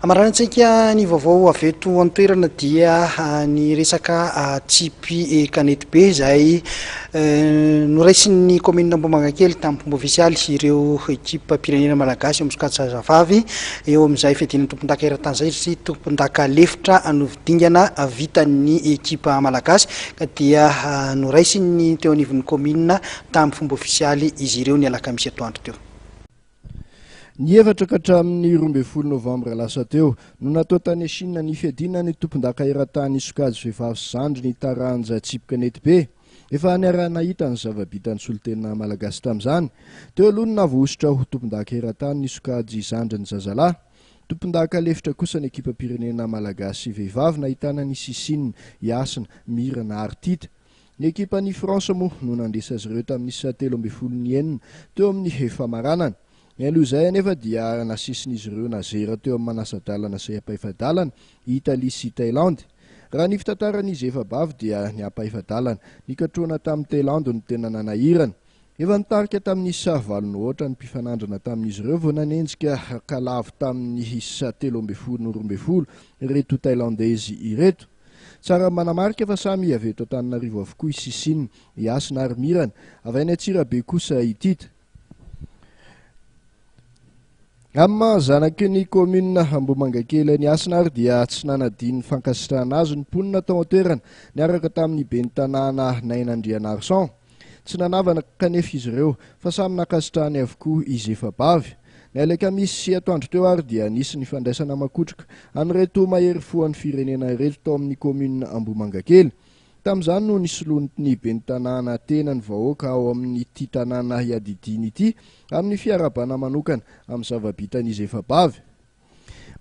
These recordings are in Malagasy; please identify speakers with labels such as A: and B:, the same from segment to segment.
A: Amaranintsika ny vaovao avy eto an-toerana dia ny resaka tsipy kanety be izay noraisin'ny kaominina Ambohimangakely tamin'ny fomba ofisialy ireo ekipam-pirenena malagasy amin'ny sokajy zazavavy eo amin'izay fiadiana tompondaka eran-tany izay satria tompondaka lefitra novy dingana vitan'ny ekipa malagasy ka dia noraisin'ny teo anivon'ny kaominina tamin'ny fomba ofisialy izy ireo ny alakamisy atoandro teo.
B: Ny efatra ka hatramin'ny roa ambin'ny folo novambra lasa teo no natao tany Chine ny fiadiana ny tompondaka eran-tany sokajy vehivavy sy zandriny taranja tsipy kanety be. Efa niaraha-nahita ny zava-bitan'ny solontena malagasy tamin'izany. Teo aloha no navoahosotra ho tompondaka eran-tany ny sokajy zandriny zazalahy. Tompondaka lefitra kosa ny ekipam-pirenena malagasy vehivavy nahitana ny Sisine, i Hasina, Mirana ary Tita. Ny ekipan'i France moa no nandresy azy ireo tamin'ny isa telo ambin'ny folo ny enina teo amin'ny famaranana. Nialoha izay anefa dia nasisin'izy ireo nazera teo amin'ny manasa-dalana sy ampahefa-dalana i Italie sy Thailandy. Raha ny fitantaran'izy efa-bavy dia ny ampahefa-dalana nikatrohana tamin'i Thailandy no tena nanahirana. Efa nitarika tamin'ny isa valo nohoatra ny mpifanandrina tamin'izy ireo vao nanenjika ka lavo tamin'ny isa telo ambin'ny folo no roa ambin'ny folo ireto Thailandezy ireto. Tsara manamarika fa samy avy eto Antananarivo avokoa i Sisina, i Hasina ary Mirana. Avy any Antsirabe kosa i Tita. Amin'ny maha zanaky ny kaominina Ambohimangakely an'i Hasina ary dia tsy nanadino ny fankasitrahana azy ny mponina tao an-toerana niaraka tamin'ny ben'ny tanàna Naina Andrianarison. Tsy nanavana kanefa izy ireo, fa samy nankasitrahany avokoa izy efa-bavy. Ny Alekamisy sy atoandro teo ary dia nisy ny fandraisana makotroka an'ireto mahery fo an'ny firenena ireto tao amin'ny kaominina Ambohimangakely. Tamin'izany no nisolontny ben'ny tanàna tena ny vahoaka ao amin'ity tanàna iadidiany ity amin'ny fiarahabana manokana amin'ny zava-bitan'izy efa-bavy.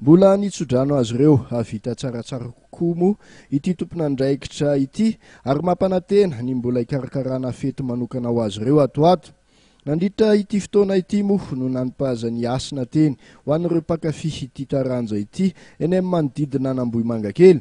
B: Mbola ny tsodrano azy ireo hahavita tsaratsara kokoa moa ity tompon'andraikitra ity ary mampanantena ny mbola hikarakarana fety manokana ho azy ireo ato ho ato. Nandritra ity fotoana ity moa no nanipazany hasina teny ho an'ireo mpankafy ity taranja ity eny amin'ny manodidina an'Ambohimangakely.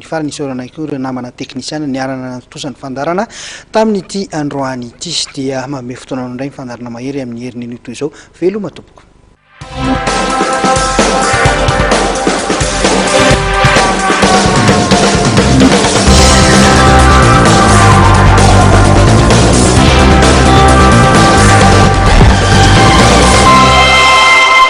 B: Ny
A: farany isaorana ihany koa ireo namana teknisiana niarana nantontosa ny fandaharana tamin'ity androany ity. Dia manome fotoana anao indray ny fandaharana mahery amin'ny heriny anio toy izao. Veloma tompoko.